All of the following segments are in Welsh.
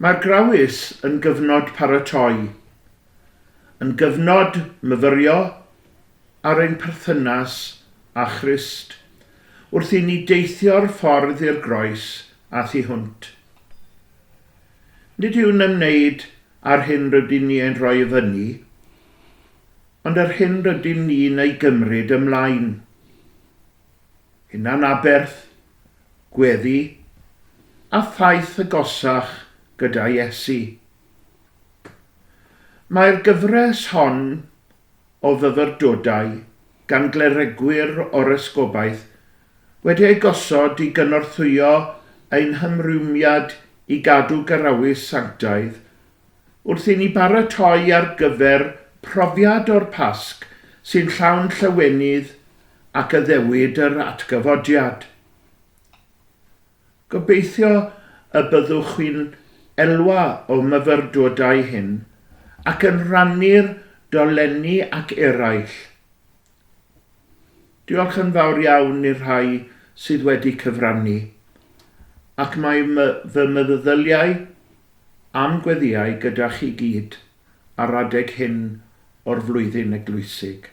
Mae'r Grawys yn gyfnod paratoi, yn gyfnod myfyrio ar ein perthynas â Christ, wrth i ni deithio'r ffordd i'r groes a thu hwnt. Nid yw'n ymwneud â'r hyn rydyn ni ein rhoi i fyny, Ond yr hyn rydyn ni'n ei gymryd ymlaen, hunanaberth, gweddi, a thaith agosach gyda Iesu. Mae'r gyfres hon o fyfyrdodau gan gleregwyr o'r Esgobaeth wedi eu gosod i gynorthwyo ein hymrwymiad i gadw garawys sanctaidd Wrth i ni baratoi ar gyfer profiad o'r Pasg sy'n llawn llawenydd ac addewid yr atgyfodiad. Gobeithio y byddwch chi'n elwa o'm myfyrdodau hyn ac yn rhannu'r dolenni ac eraill. Diolch yn fawr iawn i'r rhai sydd wedi cyfrannu, ac mae fy meddyliau a'm gweddïau gyda chi gyd ar adeg hyn o'r flwyddyn eglwysig.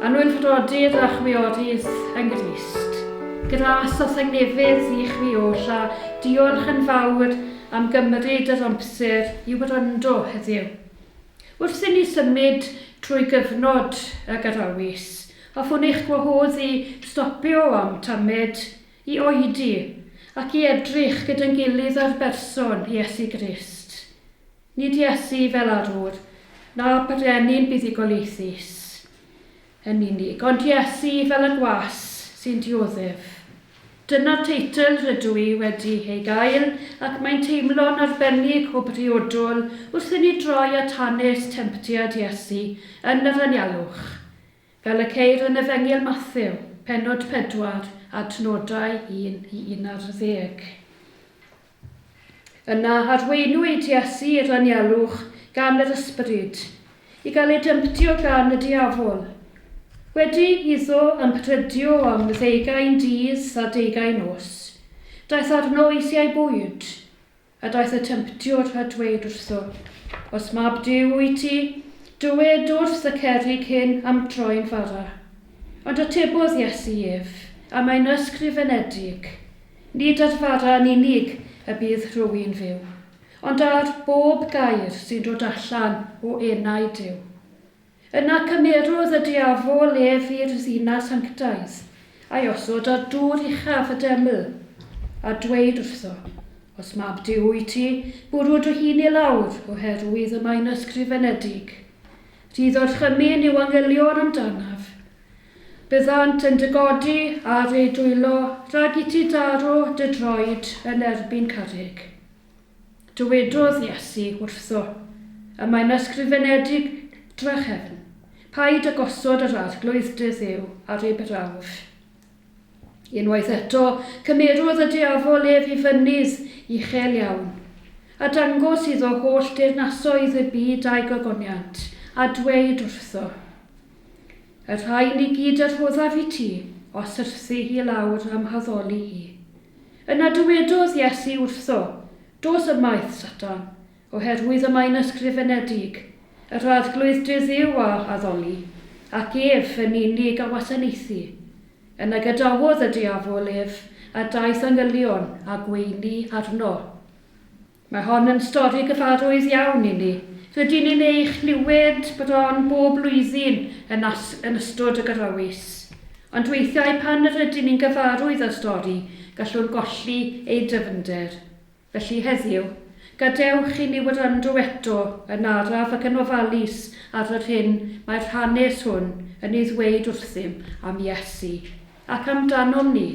Anwylfrodi a drachwiorydd yn Grist. Gras a thangnefydd i chwi oll a diolch yn fawr am gymryd yr amser i wrando heddiw. Wrth i ni symud trwy gyfnod y Garawys, hoffwn eich gwahodd i stopio am tamed, i oedi, ac i edrych gyda'n gilydd ar berson Iesu Grist. Nid Iesu fel arwr, na brenin buddugoliaethus yn unig, ond Iesu fel y gwas sy'n dioddef. Dyna'r teitl rydw i wedi ei gael ac mae'n teimlo'n arbennig o briodol wrth i ni droi at hanes temtiad Iesu yn yr anialwch, fel y ceir yn Efengyl Mathew, pennod 4, adnodau 1 i 11. Yna arweinwyd Iesu i'r anialwch gan yr ysbryd, i gael ei dymtio gan y diafol. Wedi iddo ymprydio am ddeugain dydd a deugain nos, daeth arno eisiau bwyd, a daeth y Temtiwr a dweud wrtho, Os mab Duw wyt ti, dywed wrth y cerrig hyn am droi'n fara. Ond atebodd Iesu ef, A mae'n ysgrifenedig, Nid ar fara yn unig y bydd rhywun fyw, ond ar bob gair sy'n dod allan o enau Duw. Yna cymerodd y diafol ef i'r ddinas sanctaidd, a'i osod ar dŵr uchaf y deml, a dweud wrtho, Os mab Duw wyt ti, bwrw dy hun i lawr, oherwydd y mae'n ysgrifenedig. Rhydd orchymyn yw angylion amdanaf, Byddant yn dy godi ar eu dwylo rhag i ti daro dy droed yn erbyn carreg. Dywedodd Iesu wrtho, y mae'n ysgrifenedig drachefn, Paid â gosod yr Arglwydd dy Dduw ar ei brawf. Unwaith eto, cymerodd y diafol ef i fynydd uchel iawn, a dangos iddo holl deyrnasoedd y byd a'i gogoniant, a dweud wrtho, Y rhain i gyd y rhoddaf i ti, os wrthi hi lawr a'm haddoli i. Yna dywedodd Iesu wrtho, Dos ymaith, Satan, oherwydd y mae'n ysgrifenedig, Yr Arglwydd dy Dduw a addoli, ac ef yn unig a wasanaethu. Yna gadawodd y diafol ef, a daeth angylion a gweini arno. Mae hon yn stori gyfarwydd iawn i ni. Rydyn ni'n ei chlywed bron bob blwyddyn yn as yn ystod y Gyrrawys. Ond weithiau pan rydyn ni'n gyfarwydd â'r stori, gallwn golli ei ddyfnder. Felly, heddiw, gadewch i ni wrando eto yn araf ac yn ofalus ar yr hyn mae'r hanes hwn yn ei ddweud wrthym am Iesu ac amdanom ni.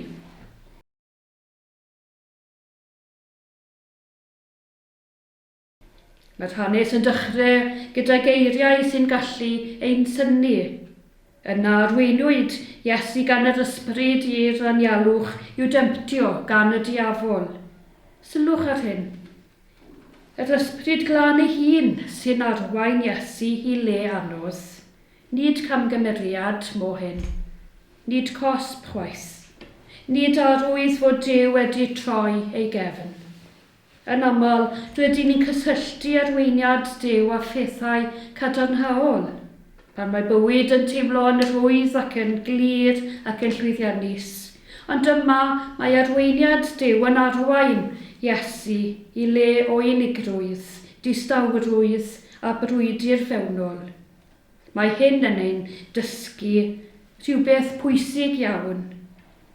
Mae'r hanes yn dechrau gyda geiriau sy'n gallu ein synnu. Yna arweinwyd Iesu gan yr ysbryd i'r anialwch i'w demptio gan y diafol. Sylwch ar hyn. Yr ysbryd glân ei hun sy'n arwain Iesu i le anos. Nid camgymeriad mohyn. Nid cosb chwaith. Nid arwydd fod Duw wedi troi ei gefn. Yn aml, rydyn ni'n cysylltu arweiniad Duw â phethau cadarnhaol. Pan mae bywyd yn teimlo'n rhwydd ac yn glir ac yn llwyddiannus. Ond yma, mae arweiniad Duw yn arwain Iesu i le o unigrwydd, distawrwydd a brwydr fewnol. Mae hyn yn ein dysgu rhywbeth pwysig iawn,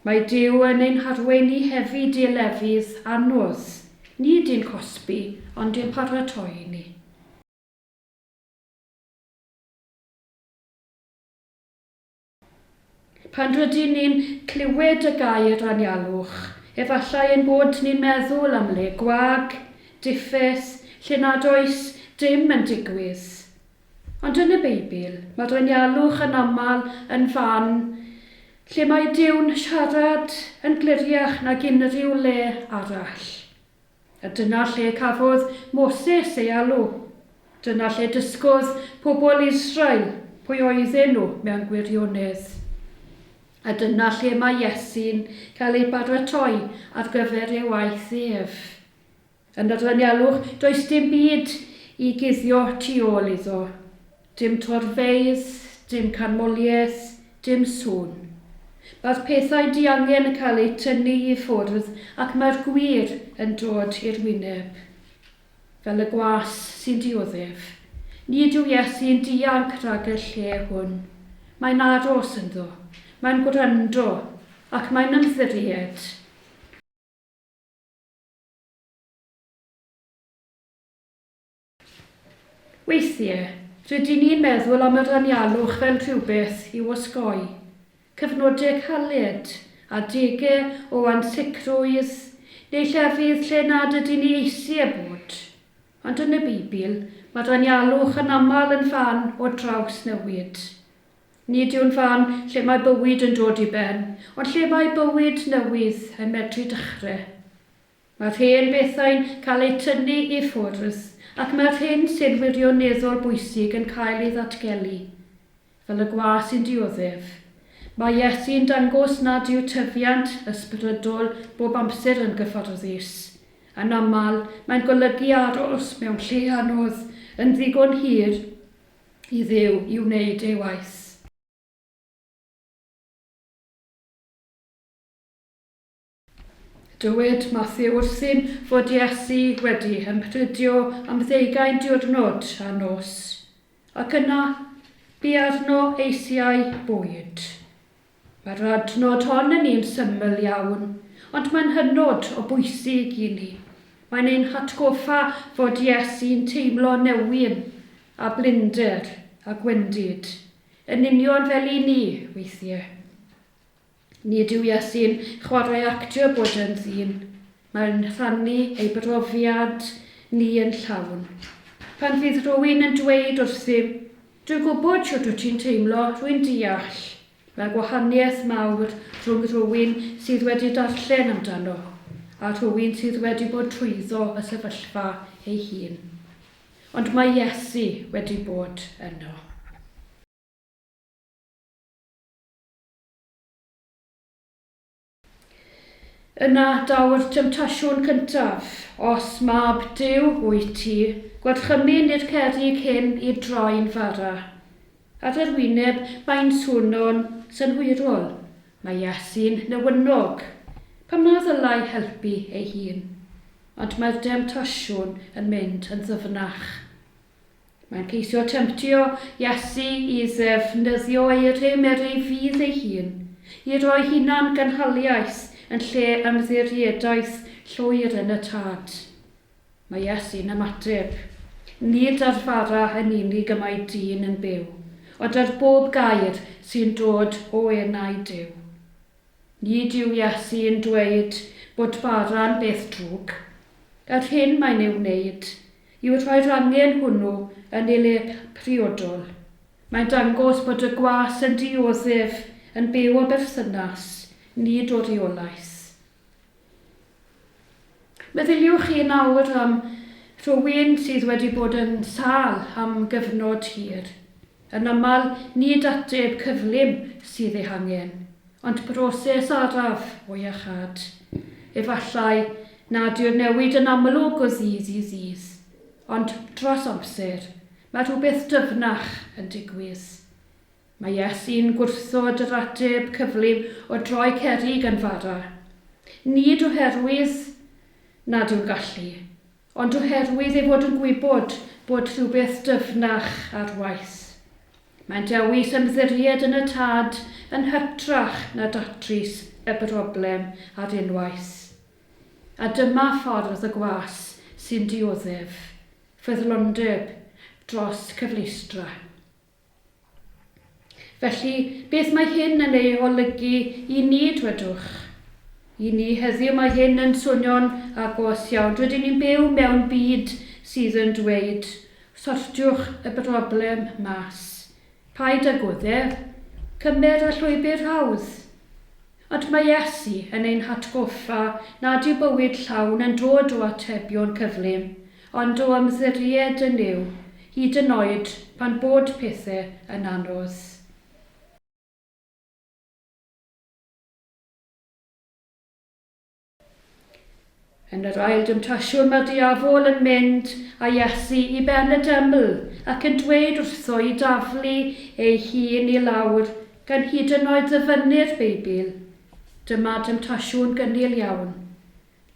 mae Duw yn ein harwain ni hefyd i lefydd anodd, nid i'n cosbi, ond i'n paratoi ni. Pan rydyn ni'n clywed y gair anialwch, efallai ein bod ni'n meddwl am le gwag, diffyth, lle nad oes dim yn digwydd. Ond yn y Beibl, mae'r anialwch yn aml yn fan lle mae Duw'n siarad yn gliriach nag unrhyw le arall. A dyna lle cafodd Moses ei alw. Dyna lle dysgodd pobl Israel pwy oedden nhw mewn gwirionedd. A dyna lle mae Iesu'n cael ei baratoi ar gyfer ei waith ef. Yn yr anialwch, does dim byd i guddio tu ôl iddo. Dim torfeydd, dim canmoliaeth, dim sŵn. Mae'r pethau diangen yn cael eu tynnu i ffwrdd ac mae'r gwir yn dod i'r wyneb. Fel y gwas sy'n dioddef. Nid yw Iesu'n dianc rhag y lle hwn. Mae'n aros ynddo. Mae'n gwrando. Ac mae'n ymddiried. Weithiau, rydyn ni'n meddwl am yr anialwch fel rhywbeth i'w osgoi. Cyfnodau caled, adegau o ansicrwydd, neu llefydd lle nad ydyn ni eisiau bod. Ond yn y Beibl, mae'r anialwch yn aml yn fan o drawsnewid. Nid yw'n fan lle mae bywyd yn dod i ben, ond lle mae bywyd newydd yn medru dechrau. Mae'r hen bethau'n cael eu tynnu i ffwrdd ac mae'r hyn sy'n wirioneddol bwysig yn cael ei ddatgelu. Fel y gwa sy'n dioddef, mae Iesu'n dangos nad yw tyfiant ysbrydol bob amser yn gyfforddus. Yn aml, mae'n golygu aros mewn lle anodd yn ddigon hir i Dduw i wneud ei waith. Dywed Mathew wrthym fod Iesu wedi ymrhydio am ddeugain diwrnod a nos, ac yna bu arno eisiau bwyd. Mae'r adnod hon yn un syml iawn, ond mae'n hynod o bwysig i ni. Mae'n ein hatgoffa fod Iesu'n teimlo newyn a blinder a gwendid, yn union fel i ni, weithiau. Nid yw Iesi'n chwarae actio bod yn ddyn, mae'n rhannu ei brofiad ni yn llawn. Pan fydd rhywun yn dweud wrthym, Dwi'n gwybod shwt wyt ti'n teimlo, rwy'n deall, mae gwahaniaeth mawr rhwng rhywun sydd wedi darllen amdano a rhywun sydd wedi bod trwyddo y sefyllfa ei hun. Ond mae Iesi wedi bod yno. Yna daw'r temtasiwn cyntaf, Os mab Duw wyt ti, gwarchymyn i'r cerrig hyn i droi'n fara. Ar yr wyneb, mae'n swno'n synhwyrol, mae Iesu'n newynog. Pam na ddylai helpu ei hun? Ond mae'r demtasiwn yn mynd yn ddyfnach. Mae'n ceisio temtio Iesu i ddefnyddio ei rym er ei fudd ei hun, i roi hunan-gynhaliaeth yn lle ymddiriedaeth llwyr yn y Tad. Mae Iesu'n ymateb, Nid â'r fara yn unig y mae dyn yn byw, ond ar bob gair sy'n dod o enau Duw. Nid yw Iesu yn dweud bod bara'n beth drwg. Yr hyn mae'n ei wneud yw rhoi'r angen hwnnw yn ei le priodol. Mae'n dangos bod y gwas yn dioddef, yn byw o berthynas, nid o reolaeth. Meddyliwch chi yn awr am rywun sydd wedi bod yn sâl am gyfnod hir. Yn aml, nid ateb cyflym sydd ei hangen, ond broses araf o iachâd. Efallai nad yw'r newid yn amlwg o ddydd i ddydd, ond dros amser, mae rhywbeth dyfnach yn digwydd. Mae Iesu'n gwrthod yr ateb cyflym o droi cerrig yn fara, nid oherwydd nad yw'n gallu, ond oherwydd ei fod yn gwybod bod rhywbeth dyfnach ar waith. Mae'n dewis ymddiried yn y Tad yn hytrach na datrys y broblem ar unwaith. A dyma ffordd y gwas sy'n dioddef ffyddlondeb dros cyfleustra. Felly, beth mae hyn yn ei olygu i ni, dwedwch? I ni heddiw mae hyn yn swnio'n agos iawn. Rydyn ni'n byw mewn byd sydd yn dweud, 'Sortiwch y broblem mas. Paid â gwddf. Cymer y llwybr hawdd. Ond mae Iesu yn ein hatgoffa nad yw bywyd llawn yn dod o atebion cyflym, Ond o ymddiried yn Nuw, hyd yn oed pan bod pethe yn anodd. Yn yr ail demtasiwn mae'r diafol yn mynd â Iesu i ben y deml ac yn dweud wrtho i daflu ei hun i lawr gan hyd yn oed ddyfynnu'r Beibl. Dyma demtasiwn gynnil iawn.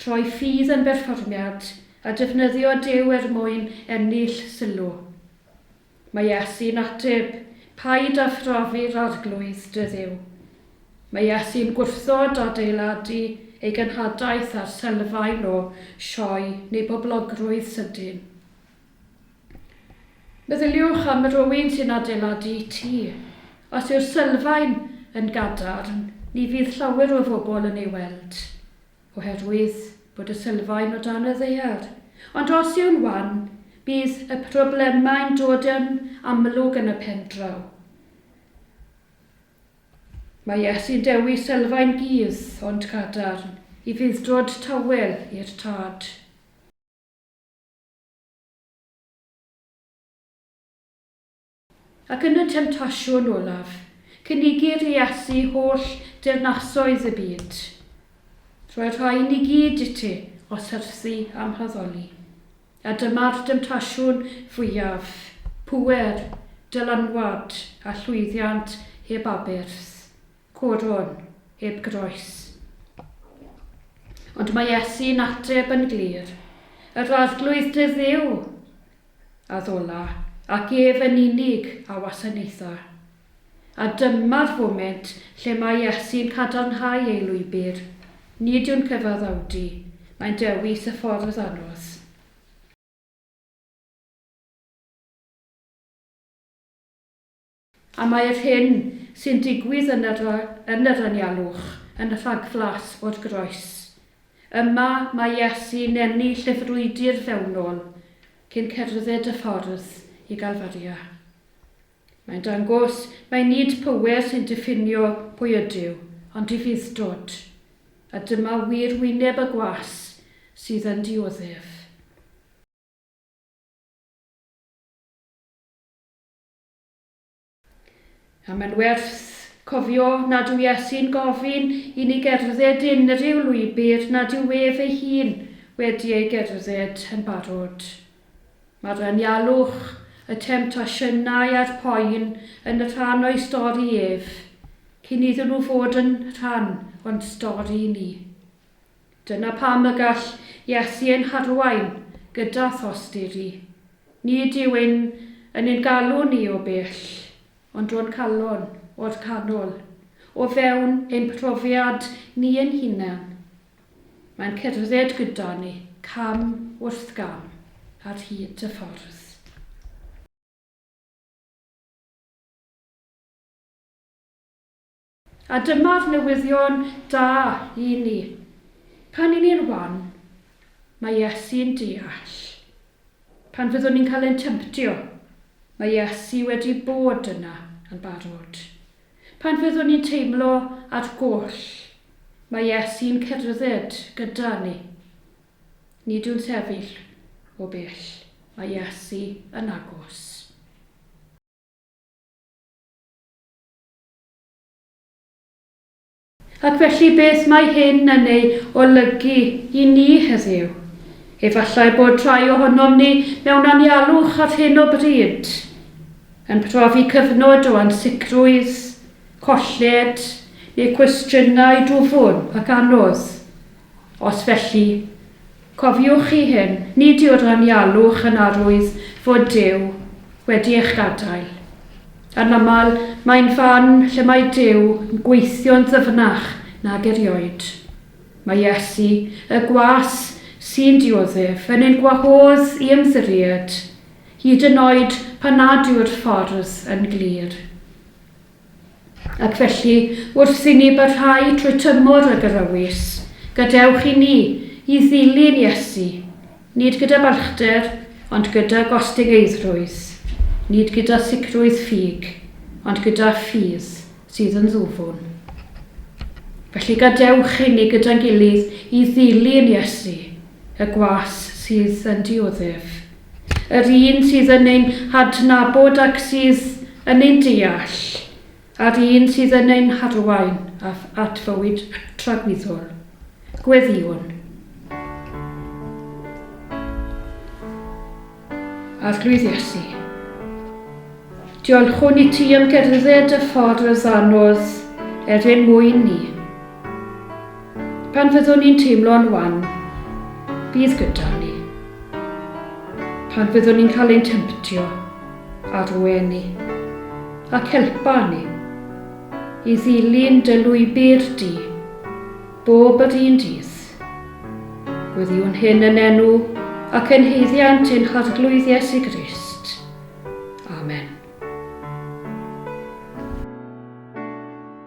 Troi ffydd yn berfformiad a defnyddio Duw er mwyn ennill sylw. Mae Iesu'n ateb, Paid â phrofi'r Arglwydd dy Dduw. Mae Iesu'n gwrthod adeiladu ei genhadaeth ar sylfaen o sioe neu boblogrwydd sydyn. Meddyliwch am rywun sy'n adeiladu tŷ. Os yw'r sylfaen yn gadarn, ni fydd llawer o bobl yn ei weld. oherwydd bod y sylfaen o dan y ddaear, ond os yw'n wan, bydd y problemau'n dod yn amlwg yn y pendraw. Mae Iesu'n dewis sylfaen gudd ond cadarn i fudd-dod tawel i'r Tad. Ac yn y temtasiwn olaf, cynigir i Iesu holl deyrnasoedd y byd. Rhoi'r rhain i gyd i ti, o syrthu a'm haddoli. A dyma'r demtasiwn fwyaf, pŵer, dylanwad, a llwyddiant heb aberth, coron heb groes. Ond mae Iesu'n ateb yn glir, Yr Arglwydd dy Dduw addolai, ac ef yn unig a wasanaetha. A dyma'r foment lle mae Iesu'n cadarnhau ei lwybr, nid yw'n cyfaddawdu, mae'n dewis y ffordd anodd. A mae yr hyn sy'n digwydd yn yr yn yr anialwch yn rhagflas o'r groes. Yma mae Iesu'n ennill y frwydr fewnol cyn cerdded y ffordd i Galfaria. Mae'n dangos mai nid pŵer sy'n diffinio pwy ydyw, ond difuddtod, a dyma wir wyneb y gwas sydd yn dioddef. A mae'n werth cofio nad yw Iesu'n gofyn i ni gerdded unrhyw lwybr nad yw ef ei hun wedi ei gerdded yn barod. Mae'r anialwch, y temtasiynau a'r poen yn rhan o'i stori ef, cyn iddyn nhw fod yn rhan o'n stori ni. Dyna pam y gall Iesu ein harwain gyda thosturi. Nid yw hyn yn ein galw ni o bell, ond o'n calon, o'r canol, o fewn ein profiad ni ein hunain. Mae'n cerdded gyda ni, cam wrth gam, ar hyd y ffordd. A dyma'r newyddion da i ni. Pan y'n ni'n wan, mae Iesu'n deall. Pan fyddwn ni'n cael ein tymtio, mae Iesu wedi bod yna yn barod. Pan fyddwn ni'n teimlo ar goll, mae Iesu'n cerdded gyda ni. Nid yw'n sefyll o bell, mae Iesu yn agos. Ac felly beth mae hyn yn ei olygu i ni heddiw? Efallai bod rhai ohonom ni mewn anialwch ar hyn o bryd, yn profi cyfnod o ansicrwydd, colled, neu cwestiynau dwfn ac anodd. Os felly, cofiwch chi hyn, nid yw'r anialwch yn arwydd fod Duw wedi eich gadael. Yn aml, mae'n fan lle mae Duw yn gweithio'n ddyfnach nag erioed. Mae Iesu, y gwas sy'n dioddef, yn ein gwahodd i ymddiried, hyd yn oed pan nad yw'r ffordd yn glir. Ac felly, wrth i ni barhau trwy tymor y Gyfrewys, gadewch i ni i ddilyn Iesu, nid gyda balchder, ond gyda gostyngeidrwydd, nid gyda sicrwydd ffug, ond gyda ffydd sydd yn ddwfwn. Felly, gadewch i ni gyda'n gilydd i ddilyn Iesu, y gwas sydd yn dioddef. yr un sydd yn ein hadnabod ac sydd yn ein deall, a'r un sydd yn ein harwain at fywyd tragwyddol. Gweddïwn. Arglwydd Iesu, diolchwn i ti am gerdded y ffordd anodd er ein mwyn ni. Pan fyddwn ni'n teimlo'n wan, bydd gyda ni. Pan fyddwn ni'n cael ein temtio, arwe ni, ac helpa ni i ddilyn dy lwybr di bob yr un dydd. Gweddiwn hyn yn enw ac yn haeddiant ein Harglwydd Iesu Grist. Amen.